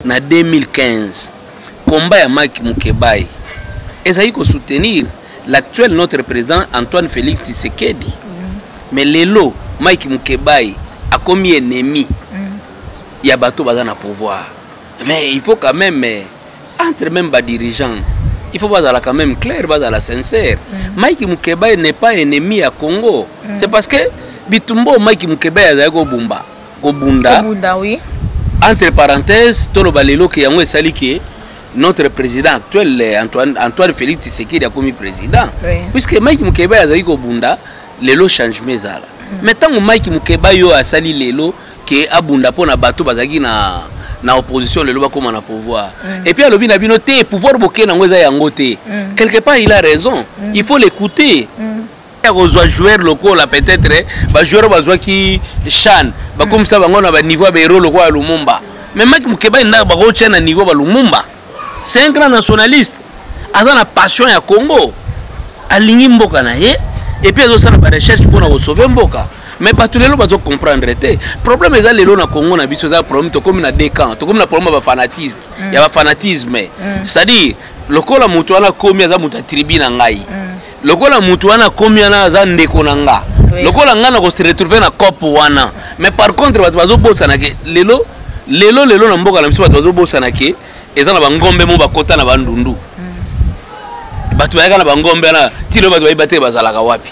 na 2015 combat ya mike mukebayi ezali kosoutenir l'actuel notre président antoine félix tshisekedi mm. mais lelo mike mukebayi akomi ennemi mm. ya bato baza na pouvoir mais il faut quand même eh, entre même badirigeant il faut bazala quand même clair bazala sincère mm. mike mukebayi n'est pas ennemi ya congo c'est parce que bitumba oyo mike mukebayi azali kobumba kobunda kobunda oui entre parenthèses toloba lelo ke yango esali ke notre président actuel Antoine, Antoine Félix Tshisekedi akomi président oui. puisque Mike Mukeba azali kobunda lelo changement ezala mm. mais ntango Mike Mukeba yo asali lelo ke abunda mpo na bato bazalaki na na opposition lelo bakóma na pouvoir mm. et puis alobi na bino te pouvoir boke nango eza yango te mm. quelque part il a raison mm. il faut l'écouter mm. ya kozwa joueur lokola peut-être ba joueur bazwaki Chan bakomisa bango na ba niveau ya ba héros lokola Lumumba mais Mike Mukeba ina bakotya na niveau ba Lumumba c'est un grand nationaliste aza na passion ya Congo alingi mboka na ye et puis azosala ba recherche mpo na kosauve mboka mais bato lelo bazo comprendre te problème eza lelo na congo na biso eza problème tokomi na deux camps tokomi na problème ya bafanatisme mm. ya bafanatisme mm. c'est-à-dire lokola moto wana akomi aza moto ya tribu na ngai mm. lokola mutu wana akomi wana aza ndeko na nga lokola nga nako se retrouver na cop wana mais par contre bato bazobosana ke lelo lelo lelo na mboka na biso bato bazobosana ke eza na bangombe mo bakota na bandundu mm. bato bayaka na bangombe wana tilo bato bayeba te bazalaka wapi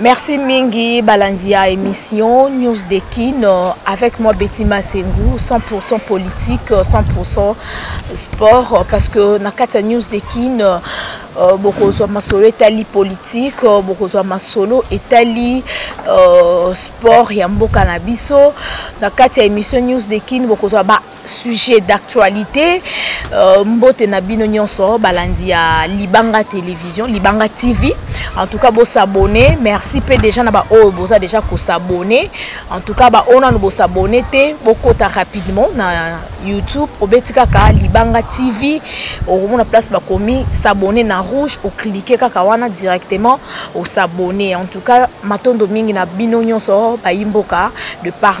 Merci mingi Balandia émission News de Kin euh, avec moi Betty Masengu 100% politique 100% euh, sport euh, parce que na kati ya News de Kin euh, bokozwa masolo etali politique euh, bokozwa masolo etali euh, sport ya mboka na biso na kati ya émission News de Kin bokozwa ba sujet d'actualité euh, mbote na bino nyonso balandi ya libanga télévision libanga tv en tout cas bosabone merci mpe déjà na baoyo boza déjà kosabone en tout cas baoyo nano bosabone te bokota rapidement na youtube obeti kaka libanga tv okomona place bakomi s'abonne na rouge oklike kaka wana directement osabone en tout cas matondo mingi na bino nyonso bayimboka de partout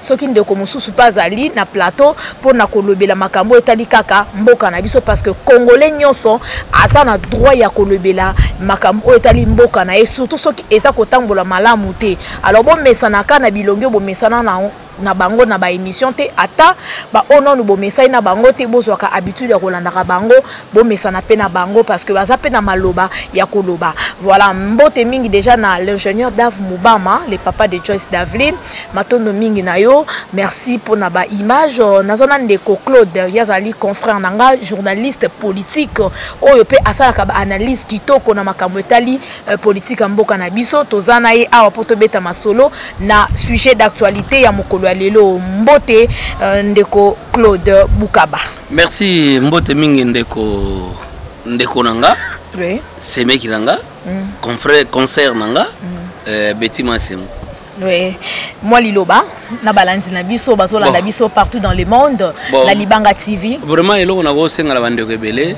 soki ndeko mosusu mpe azali na plateau mpo na kolobela makambo etali kaka mboka na biso parce que congolais nyonso aza na droit ya kolobela makambo oyo etali mboka na ye surtout soki eza kotambola malamu te alors bomesanaka na bilongi oyo bomesana na na bango na baémission te ata baoyo nanu bomesani na bango te bozwaka habitude ya kolandaka bango bomesana mpe na bango parce que baza mpe na maloba ya koloba voilà mbote mingi déjà na l'ingénieur dave mubama le papa de joyce daveline matondo mingi na yo merci mpo na baimage euh, naza na ndeko claude ye azali confrère na nga journaliste politique oyo mpe asalaka baanalyse kitoko na makambo etali euh, politike ya mboka na biso toza na ye awa mpo tobeta masolo na sujet d'actualité ya mokolo ya lelo mbote euh, ndeko claude bukaba merci mbote mingi ndeko ndeko na nga oui. semeki na nga mm. confrère concert na nga mm. euh, beti masengo oui. mwa liloba na balandi na biso bazolanda bon. biso partout dans le monde bon. na libanga tv vraiment eloko nakosenga na bandeko ebele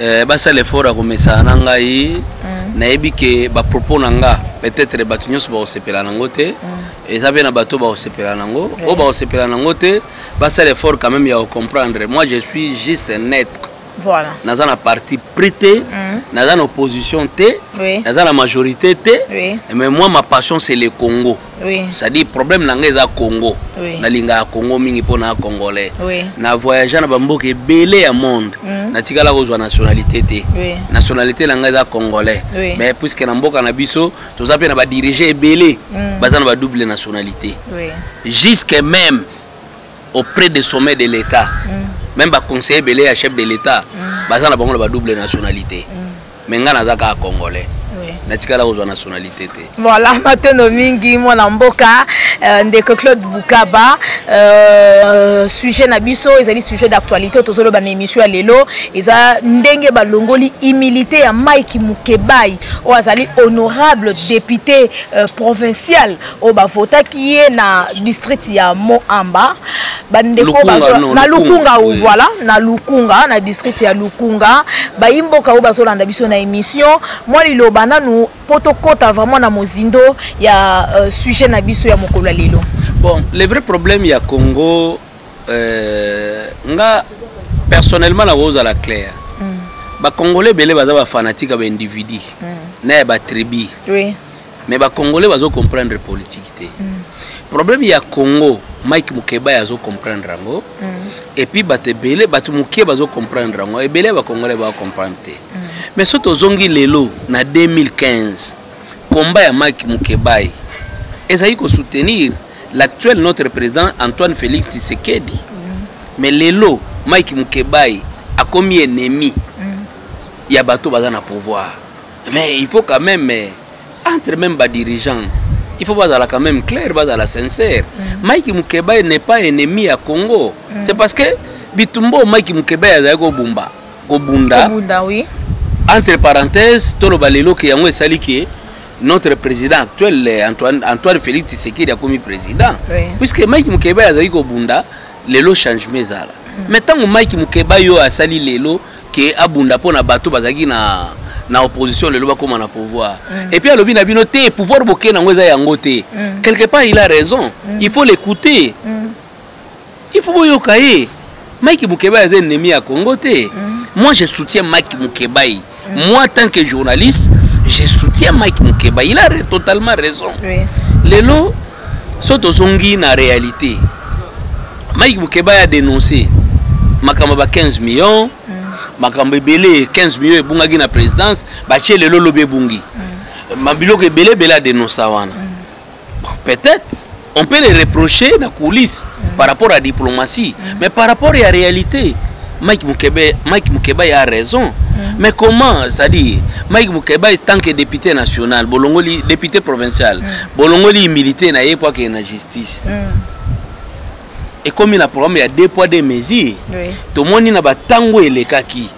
euh, basala effort ya komesana na ngai mm. nayebi ke bapropos na nga peut-être bato nyonso bakosepela nango te mm. eza mpe na bato bakosepela nango oyo bakosepela nango te basala effort quand même ya ocomprendre moi je suis juste un être voilà. naza na parti pris te mm. naza na opposition te oui. naza na majorité te oui. mais moi ma passion c'est le congo oui. c'est-à-dire problème na ngai eza congo oui. nalingaka congo mingi mpo na congolais oui. na voyage na bamboka ebele ya monde mm. natikala kozwa nationalité te oui. nationalité na ngai eza congolais oui. mais puisque na mboka na biso toza mpe na badirige ebele mm. baza na badouble nationalité oui. jusque même auprès des sommets de l'état mm. même baconseiller ebele ya chef de l'état mm. baza na bango na badouble nationalité mm. me ngai naza kaka congolais natikala kozwa nationalité te voilà matono mingi mwana mboka euh, ndeko claude bukaba euh, sujet na biso ezali sujet d'actualité oyo tozoloba na émission ya lelo eza ndenge balongoli humilité ya mike mukebai oyo azali honorable député euh, provincial oyo bavotaki ye na district ya moamba bandeko na lukunga voilà na lukunga na district ya lukunga bayi mboka oyo bazolanda biso na émission mwa liloba nanu mpo tokɔta vraiment na mozindo ya euh, sujet na biso ya mokolo ya lelo bon le vrai problème ya congo euh, nga personnellement nakozala claire mm. bacongolais ebele baza bafanatique ya baindividu mm. na ya batribu oui. mais bacongolais bazo comprendre politique te mm. problème ya congo mike mukeba azo comprendre yango mm. et puis bato ebele bato moke bazo comprendre yango ebele ya bacongolais bao comprendre te mm. mais so tozongi lelo na 2015 combat ya mike mukebayi ezali kosoutenir l'actuel notre président Antoine Félix Tshisekedi mm. mais lelo Mike Mukebayi akomi ennemi mm. ya bato baza na pouvoir mais il faut quand même eh, entre même ba dirigeants il faut bazala quand même clair bazala sincère mm. Mike Mukebayi n'est pas ennemi ya Congo mm. c'est parce que bitumbo Mike Mukebayi azali kobumba kobunda oui. entre parenthèse toloba lelo ke yango esali ke notre président actuel eh, Antoine, Antoine Félix Tshisekedi akomi président oui. puisque Mike Mukeba azali kobunda lelo changement ezala mm. mais ntango Mike Mukeba yo asali lelo ke abunda mpo na bato bazalaki na na opposition lelo bakóma na pouvoir mm. et puis alobi na bino te pouvoir boke nango eza yango te mm. quelque part il a raison mm. il faut l'écouter mm. il faut boyoka ye mike mukebayi aza ennemi ya congo te mm. moi je soutiens mike mukebayi mm. moi tant que journaliste je soutiens mike mukebayi il a totalement raison oui. lelo so tozongi na réalité mike mukebayi a dénoncé makambo ba 15 millions mm. makambo ebele 15 millions ebungaki na présidence batie lelo lobi ebungi mm. mabiloko ebele ebele adenonsa wana mm. peut-être on peut les reprocher na coulisse mm. par rapport à diplomatie mm. mais par rapport à réalité Mike Mukebe Mike Mukebe a raison mm. mais comment c'est-à-dire Mike Mukeba est tant que député national bolongoli député provincial mm. bolongoli militaire na ye pour que na justice mm. ekomi na programme ya deux poids deux mesures oui. tomoni na batango elekaki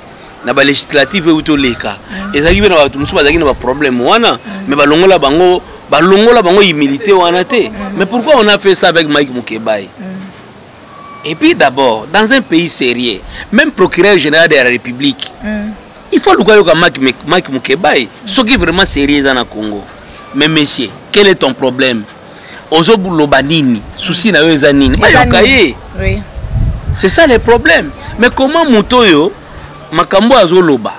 na ba législative euti oleka mm. ezalaki mpe na bato mosusu bazalaki na baproblème wana mm. mais balongola bango balongola bango humilité wana te mm. mais pourquoi on a fait ça avec mike mukebai et puis d'abord dans un pays sérieux même procureur général de la république il faut luka yoka mike mukebai soki vraiment sérieux eza na congo mais monsieur quel est ton problème ozo loba nini souci na yo eza nini bayoka ye c'est ça le problème mais comment moto oyo makambo azoloba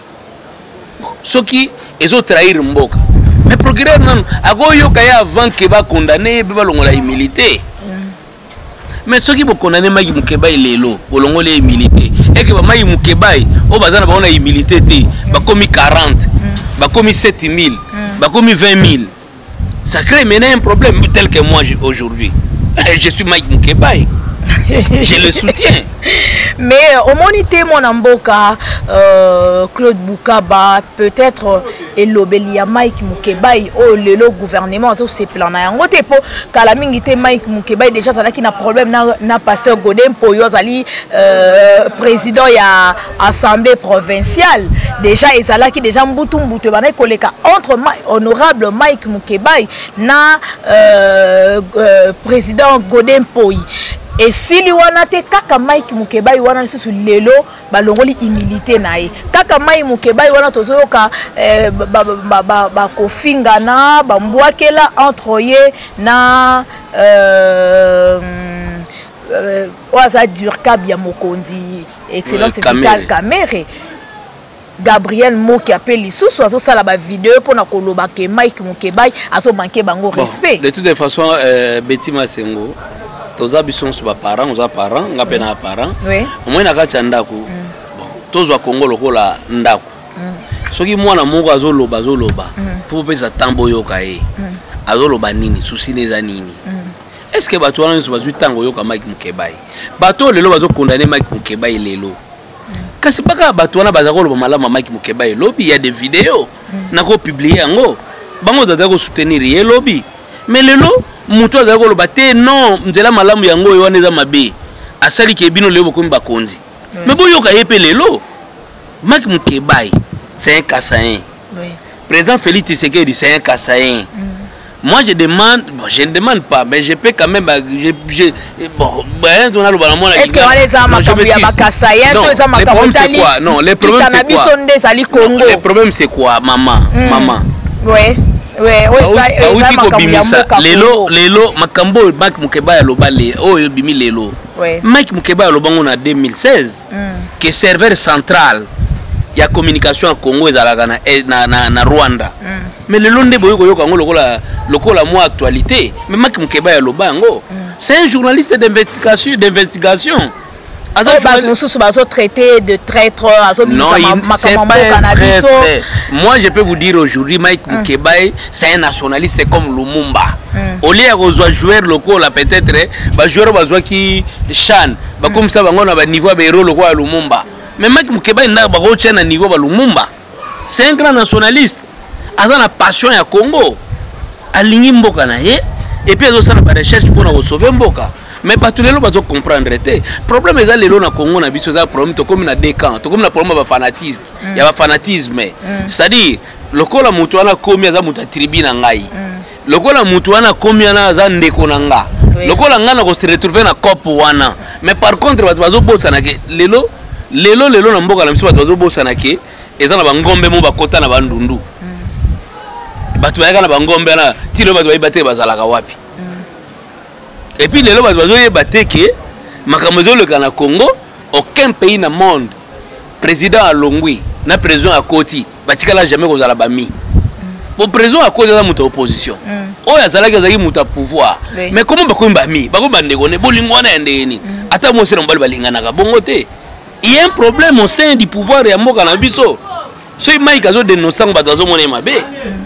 soki ezo trahir mboka mais procureur nanu akoyoka ye avant ke bakondane ye mpe balongola humilité mais soki bokondane maki mukebai lelo bolongoli ye humilité eke bamaki mukebai oyo baza na bango na humilité te bakomi 40 bakomi 7000 bakomi 20000 Ça crée maintenant un problème tel que moi aujourd'hui. Je suis Mike Mukebaye. je le soutiens mais euh, omoni te mwana mboka euh, claude bukaba peut-être euh, elobeli ya mike mukebai oyo oh, lelo gouvernement azosepela na yango te mpo kala mingi te mike mukebai déjà azalaki na problème na, na pasteur gode mpoyo azali euh, président ya assemblée provinciale déjà ezalaki déjà mbutu mbutu ebandaki koleka entre honorable mike mukebay na euh, euh, président gode mpoi esili wana te kaka mike mukebai wana lisusu lelo balongoli humilité na ye kaka mai mukebai wana tozoyoka eh, bakofingana bambwakela entre ye na euh, euh, oyo aza durcab ya mokonzi excellence vital kamere gabriel moki ape lisusu azosala bavideo mpo na koloba ke mike mokebai azomanke bango respect de toute façon euh, beti masengo toza biso nyonso baparent oza parent nga mpe na parent omoi na kati ya ndako mm. bon tozwa kongo lokola ndako mm. soki mwana moko azoloba azoloba mpo mm. opesa ntango boyoka ye azoloba nini susi na eza nini est ce que bato wana nyonso bazwi ntango oyoka mike mokebai bato oyo lelo bazokondane mike mokebai lelo kasi baka bato wana baza koloba malamu ya mike mokebai lobi ya de video mm. nakopiblie yango bango bazali kosoutenir ye lobi me lelo moto azali koloba te non nzela malamu yango oyo wana eza mabe asali ke bino lelo bokomi bakonzi me mm. boyoka ye mpe lelo mike mokebai c'est un kasain Oui. Président Félix Tshisekedi, c'est un Kassaïen. Mm. Moi, je demande, bon, je ne demande pas, mais je peux quand même. Bah, je, je, bon, ben, on a le ballon. Est-ce que on les a makambo ya bakasayen to eza makambo tali quoi non les problèmes c'est quoi biso nde ezali Congo les problèmes c'est quoi maman mm. maman ouais ouais auti kobimisa lelo lelo makambo oyo mike mokeba ya loba le oyo ebimi lelo mike mokeba ya loba ngo na 2016 que serveur central ya communication ya congo ezalaka na, eh, na, na, na rwanda mm. mais lelo nde boyi koyoka yango lokola, lokola mwa actualité mais maki mokeba ya loba yango mm. c'est un journaliste d'investigation d'investigation oh, bato mosusu bazotraite de traître azobimisa makambo mboka na biso moi je peux vous dire aujourd'hui mike mm. mukebae mm. c'est un nationaliste comme lumumba mm. au lieu ya kozwa joueur lokola peut-être bajoueur bazwaki chan bakomisa bango na baniveau ya baero lokola ya lumumba mais maki mokebani ndaka bakotya na niveau ba lumumba c'est un grand nationaliste aza na passion ya congo alingi mboka na ye epuis azosala barecherche mpo na kosauve mboka mais bato lelo bazo comprendre te problème eza lelo na congo na biso eza problème tokomi na deux camps tokomi na problème ya bafanatisme mm. ya bafanatisme mm. c'est-à-dire lokola moto wana akomi aza moto ya tribu na ngai mm. lokola mutu wana akomi wana aza ndeko na nga lokola nga na ko se retrouver na cop wana mais par contre bato bazobosana ke lelo lelo lelo na mboka na biso bato bazobosana ke eza na bangombe mo bakota na bandundu mm. bato bayaka na bangombe wana ti lelo bato bayeba te bazalaka wapi mm. epuis lelo bato bazoyeba te ke makambo ezoleka na congo aucun pays na monde président alongwi na président akoti batikala jamais kozala bami bo président akozi aza moto ya opposition mm. oyo azalaki azalaki moto ya pouvoir mais komo bakomi bami bakomi bandeko ne bolingo wana ya ndenge nini mm. ata mwasi na mobali balinganaka bongo te ye un problème au sein du pouvoir ya mboka na biso soki mike azodenonse ntango bato bazomona ye mabe mm.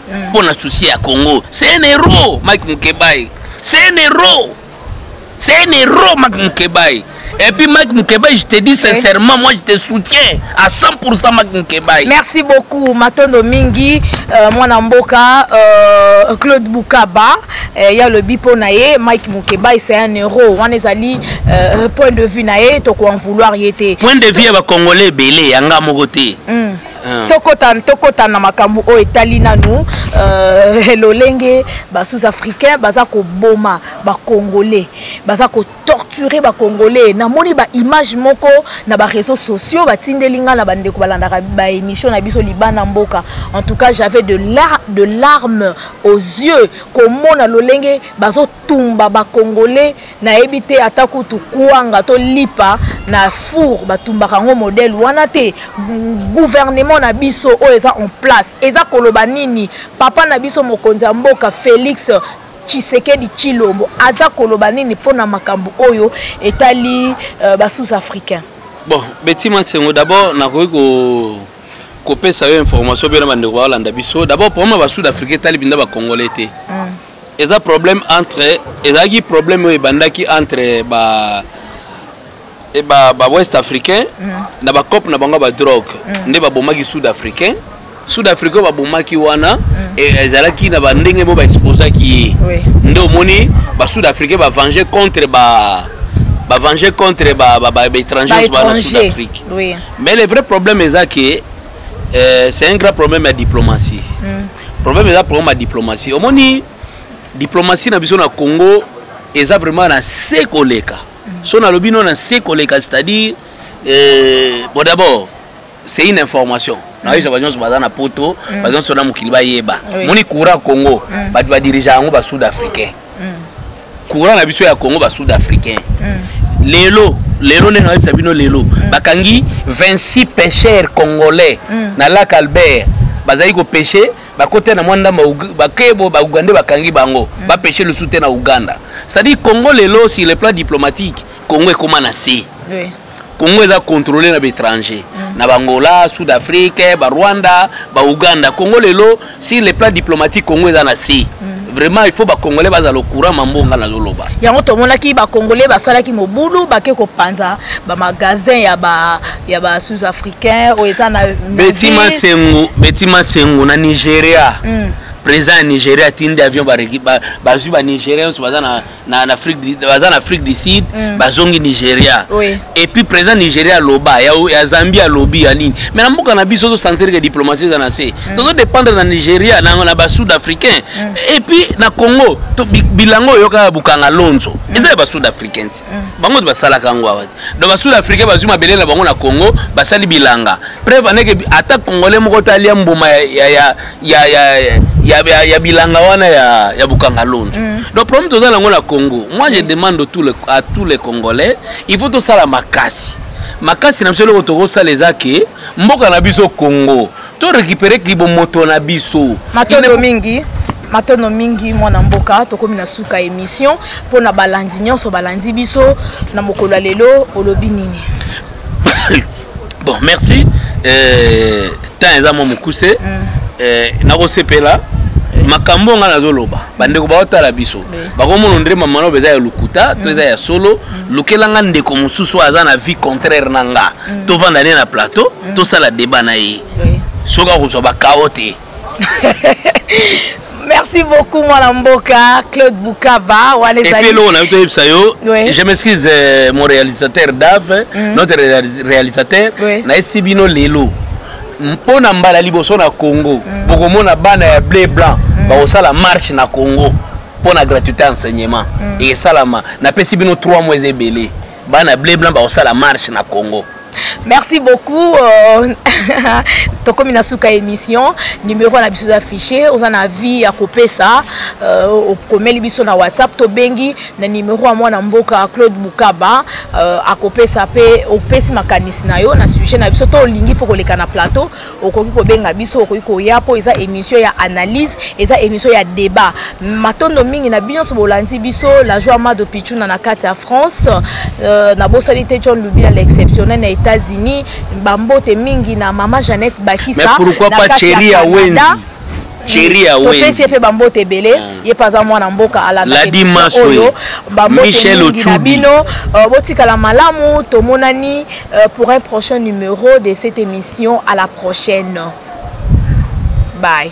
mpo na susi ya congo c'est un héros mike mukebayi c'est un héros c'est un héros mike mukebayi Et puis Mike Mukebaï, je te dis sincèrement, moi je te soutiens à 100% Mike Mukebaï. Merci beaucoup Matondo Mingi, euh, moi Namboka, euh, Claude Boukaba, il euh, y a le bipo nae, Mike Mukebaï c'est un euro, on est allé euh, point de vue nae, toko en vouloir y était. Point de vue à Congolais belé, yanga mogote. Mm. Ah. tokota tokota na makambo oyo etali nanu uh, lolenge basous africain baza koboma bacongolais baza kotorture bacongolais namoni baimage moko na bareseau sociaux batindeli ngai na bandeko balandaka baémission na biso libana mboka en tout cas j'avais de, lar de larmes aux yeux komona lolenge bazotumba bacongolais nayebi te ata kutu kwanga to lipa na four batumbaka yango modele wana te gouvernement na biso oyo eza en place eza koloba nini papa na biso mokonzi ya mboka félix tshisekedi tshilombo aza koloba nini mpo na makambo oyo etali uh, basous africain bon betima sengo d'abord nakoki ko kopesa yo information mpe na bandeko baolanda biso d'abord problème ya basud africain etali mpenza bacongolais te mm. eza problème entre ezalaki problème oyo ebandaki entre ba e ba, ba west africain mm. na bacope na bango ya badrogue mm. nde babomaki sud africain sud africain oyo babomaki wana mm. e, ezalaki na bandenge moko baexposaki ye oui. nde omoni basud africain bavange contre ba bavange contre baétranger ba, ba, ba, ba, sud afrique oui. mais le vrai problème eza ke euh, c'est un grand problème ya diplomatie mm. problème eza problème ya diplomatie omoni diplomatie na biso na congo eza vraiment na se koleka so nalobi no na se koleka c'est-à-dire eh, bon d'abord c'est une information nayoka bato nyonso baza na poto mm. bato nyonso na mokili bayeba moni courant congo mm. bato badirige yango basud africain courant na biso ya congo ba sud africain lelo lelo nde nayebisa bino lelo bakangi 26 pêcheurs congolais na lac albert bazali kopeshe bakotya na mwa ndambo bakebo baugande bakangi bango mm. bapeshe lisusu te na uganda cestadire congo lelo sur le plan diplomatique congo ekóma na se Congo eza controle na baetranger mm. na bangola sud afrique barwanda bauganda congo lelo sur le plan diplomatique congo eza na si mm. vraiment il faut bacongolais bazala ocourant mambo nga nazoloba yango tomonaki bacongolais basalaki mobulu bake kopanza bamagasin ya ba, ya ba sud africain oyo eza na beti masengo beti masengo na nigeria mm. président ya nigeria atindi avion bazwi ba, ba, ba, ba nigeria nyonso baza na na na Afrique baza na Afrique du Sud mm. bazongi Nigeria oui. et puis président Nigeria loba ya, ya Zambie alobi ya nini mais na mboka na biso to sentir que diplomatie eza na se mm. tozo dépendre na Nigeria na na ba sud africain mm. et puis na Congo to bilango yoka bukanga lonzo mm. eza ba sud africain mm. bango ba sala kango wa donc ba sud africain bazui mabele na bango na Congo basali bilanga preuve aneke ata congolais moko talia mbuma ya, ya, ya ya, ya, ya, ya, ya, ya bilanga wana ya, ya bukangalonzo mm. donc problème toza nango na congo moi je demande tout le, à tous les congolais il faut tosala makasi makasi na biso eloko tokosala eza ke mboka na biso congo to récupérer kibomoto na biso matondo mingi matono mingi mwana mboka tokomi na suka émission mpo na balandi nyonso balandi biso na mokolo ya lelo olobi nini bon merci euh, temps eza mwa mokuse mm. euh, nakosepela makambo oyo ngai nazoloba bandeko baotala biso bakomona ndre mama loba eza ya lokuta to eza ya solo mm. lukela nga ndeko mosusu aza na vie contraire na nga mm. tovanda ne na plateau mm. tosala deba na ye soki akozwa bakao te merci beaucoup mwana mboka claude bukaba wana ezali eloko na yo toyebisa yo je m'excuse euh, mon réalisateur dave mm. notre réalisateur oui. nayesi bino lelo mpo na mbala liboso na congo mm. bokomona bana ya bleu blanc mm. bakosala marche na congo mpo na gratuité enseignement mm. esalama napesi bino 3 mois eza ebele bana ble blanc bakosala marche na congo merci beaucoup euh, tokomi na suka émission numéro na biso eza affiché oza na vie ya kopesa euh, okomeli biso na whatsapp tobengi na numéro ya mwana mboka claude bukaba euh, akopesa mpe opesi makanisi na yo na sujet na biso to olingi mpo koleka na plateau okoki kobenga biso okoki koya mpo eza émission ya analyse eza émission ya débat matondo mingi na bino nyonso bolandi biso la joie mado pichuna na kati ya france euh, nabosani te john lubila l'exceptionnel na états-unis bambote mingi na mama jeannette bakisa na kati ya canada topesi ye mpe bambote ebele ah. ye mpe aza mwana mboka alandaoyo bambote mingi na bino euh, botikala malamu tomonani euh, pour un prochain numéro de cette émission à la prochaine bye